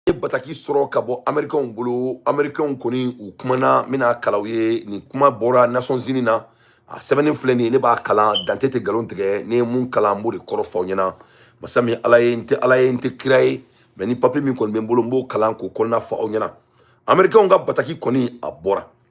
ye bataki sɔrɔ ka bɔ amerikɛnw bolo amerikɛnw kɔni u kumana n bɛn'a kalan aw ye nin kuma bɔra nations unies na a sɛbɛnni filɛ nin ye ne b'a kalan dante tɛ nkalon tigɛ ne ye mun kalan n b'o de kɔrɔ fɔ aw ɲɛna masa min ala ye n tɛ ala ye n tɛ kira ye mɛ nin papiye min kɔni bɛ n bolo n b'o kalan k'o kɔnɔna fɔ aw ɲɛna amerikɛnw ka bataki kɔni a bɔra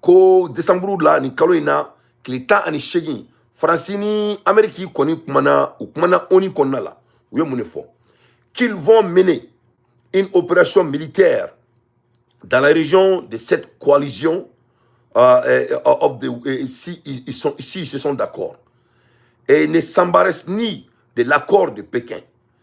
ko desanburu la nin kalo in na tile tan ani seegin faransi ni ameriki kɔni kumana u kumana oni kɔnɔna la u ye mun de fɔ qu'ils vont mener une opération militaire dans la région de cette coalition euh, euh, of the, euh, si, ils sont, si ils se sont d'accord et ne s'embarrassent ni de l'accord de Pékin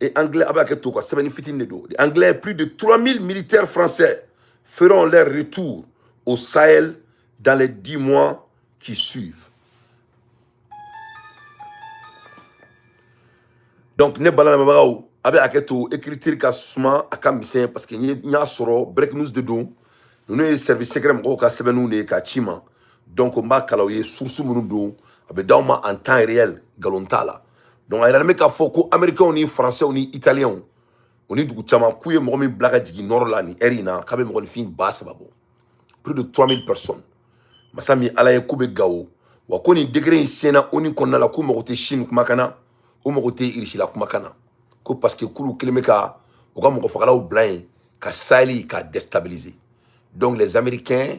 et anglais a bɛ hakɛ to ka sɛbɛnni fitini de don anglais plus de 3000 militaires français feront leur retour au Sahel dans les 10 mois qui suivent donc ne bala lamɛnbagaw a bɛ hakɛ to écriture ka suma a ka misɛn parce que n y'a sɔrɔ break news de don ninnu ye service secret mɔgɔw ka sɛbɛnniw de ye k'a ci n ma donc n b'a kalan aw ye source minnu don a bɛ d'aw ma en temps réel nkalon t'a la donc a yiralen bɛ k'a fɔ ko américains ni français ni italiens u ni dugu caman k'u ye mɔgɔ min bila ka jigin nɔrɔ la nin ɛri in na k'a bɛ mɔgɔninfin ba saba bɔ plus de 3000 personnes masa min ala ye k'u bɛ gawo wa ko nin degere in senna oni kɔnɔna la k'u mago tɛ chine kumakan na u mago tɛ irisila kumakan na ko parce que k'olu kɛlen bɛ ka u ka mɔgɔfagalaw bila yen ka saheli ka déstabiliser donc les américains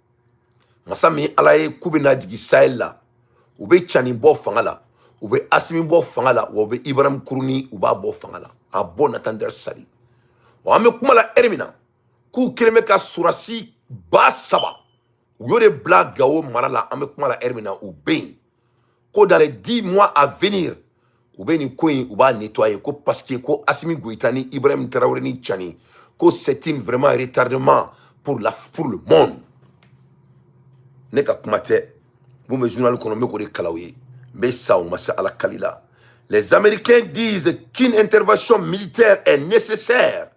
masa min ala ye k'u bɛna jigin saheli la u bɛ cani bɔ fanga la u bɛ asimi bɔ fanga la wa u bɛ ibrahim kuruni u b'a bɔ fanga la à bon entendeur salut wa an bɛ kuma la ɛri min na k'u kɛlen bɛ ka sɔrɔdasi ba saba u y'o de bila gawo mara la an bɛ kuma la ɛri min na u bɛ yen ko dans les 10 mois à venir u bɛ nin ko in u b'a nettoyer ko parce que ko Assimi Goïta ni Ibrahim Traoré ni Tchani ko c'est un vraiment retardement pour la pour le monde ne ka kuma tɛ mun bɛ journal kɔnɔ n bɛ k'o de kalan aw ye n bɛ sa u masa Ala kali la les Américains disent qu'une intervention militaire est nécessaire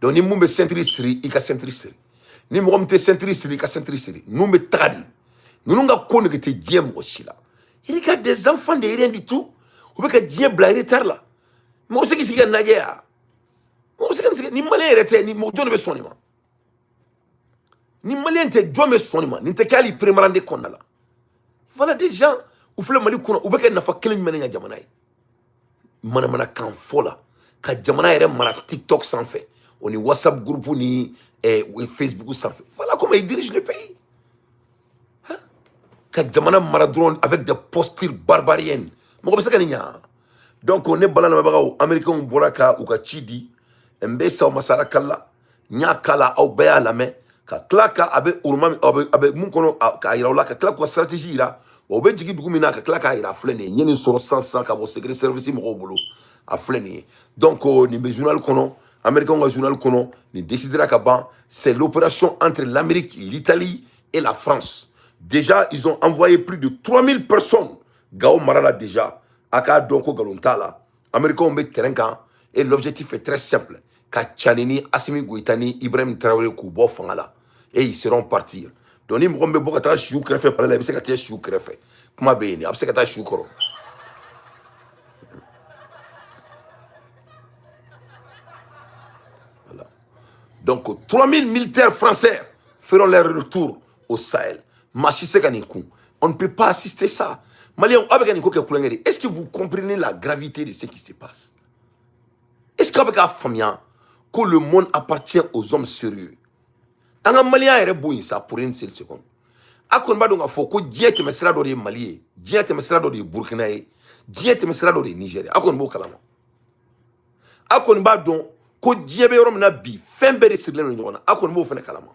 donc ni min bɛ sɛntiri siri i ka sɛntiri siri ni mɔgɔ min tɛ sɛntiri siri i ka sɛntiri siri ninnu bɛ taga de ninnu ka ko nege tɛ diɲɛ mɔgɔ si la il y a des enfants de rien du tout u bɛ ka diɲɛ bila retard la mɔgɔ bɛ se k'i sigi k'a lajɛ ya mɔgɔ bɛ se k'i sigi ni maliyɛn yɛrɛ tɛ ni mɔgɔ jɔn de bɛ sɔn nin ma ni maliyɛn tɛ jɔn bɛ sɔn nin ma nin tɛ kɛ hali peremarande kɔnɔna la voilà des gens u filɛ mali kɔnɔ u bɛ ka nafa kelen jumɛn de ɲɛ jamana ye manamanakan fɔla ka jamana yɛrɛ mara tiktok sanfɛ o ni whatsapp groupe ni eh, facebook sanfɛ voilà comment il dirige le pays hein? ka jamana mara dɔrɔn avec des postures barbariennes mɔgɔ bɛ se ka nin ɲa donc ne balima lamɛnbagaw américainw bɔra ka u ka ci di n bɛ saw masara kala n y'a kalan aw bɛɛ y'a lamɛn ka tila ka a bɛ yɔrɔ min na a bɛ mun kɔnɔ k'a yira u la ka tila k'u ka stratégie yira wa u bɛ jigin dugu min na ka tila k'a yira a filɛ nin ye n ye nin sɔrɔ sisan sisan ka bɔ secret service mɔgɔw bolo a filɛ nin ye donc nin bɛ journal kɔnɔ américain ka journal kɔnɔ nin décidera ka ban c'est l'opération entre l'amérique l'italie et la france déjà ils ont envoyé plus de 3000 personnes gawo mara la déjà a k'a dɔn ko nkalon t'a la americains bɛ terrain kan et l'objectif est très simple ka cani ni asimi goyita ni ibrahim tarawele k'u bɔ fanga la et ils seront partis donc ni mɔgɔ min bɛ bɔ ka taa sigi u kɛrɛfɛ palais la i bɛ se ka taa sigi u kɛrɛfɛ kuma bɛ yen de a bɛ se ka taa sigi u kɔrɔ Donc 3000 militaires français feront leur retour au Sahel. Maa si tɛ se ka nin kun. On ne peut pas assister ça. Malien, est-ce que vous comprenez la gravité de ce qui se passe Est-ce qu'aw bɛ k'a faamuya ko le monde appartient aux hommes sérieux An ka malienya yɛrɛ bɔ yen sa pour une seule seconde. A kɔni b'a dɔn k'a fɔ ko diɲɛ tɛmɛsira dɔ de ye Mali ye, diɲɛ tɛmɛsira dɔ de ye Burkina ye, diɲɛ tɛmɛsira dɔ de ye Niger ye. A kɔni b'o kalama. A kɔni b'a dɔn ko diɲɛ bɛ yɔrɔ min na bi fɛn bɛɛ de sirilen don ɲɔgɔn na. A kɔni b'o fana kalama.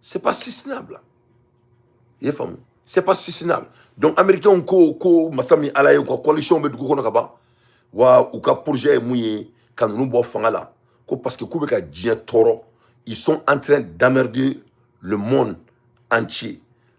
c'est pas soutenable a y'a faamu c'est pas soutenable donc américain ko ko masa min ala ye ko coalition bɛ dugu kɔnɔ ka ban wa u ka projet ye mun ye ka ninnu bɔ fanga la ko parce que k'u bɛ ka diɲɛ tɔɔrɔ ils sont en train d'emmerder le monde entier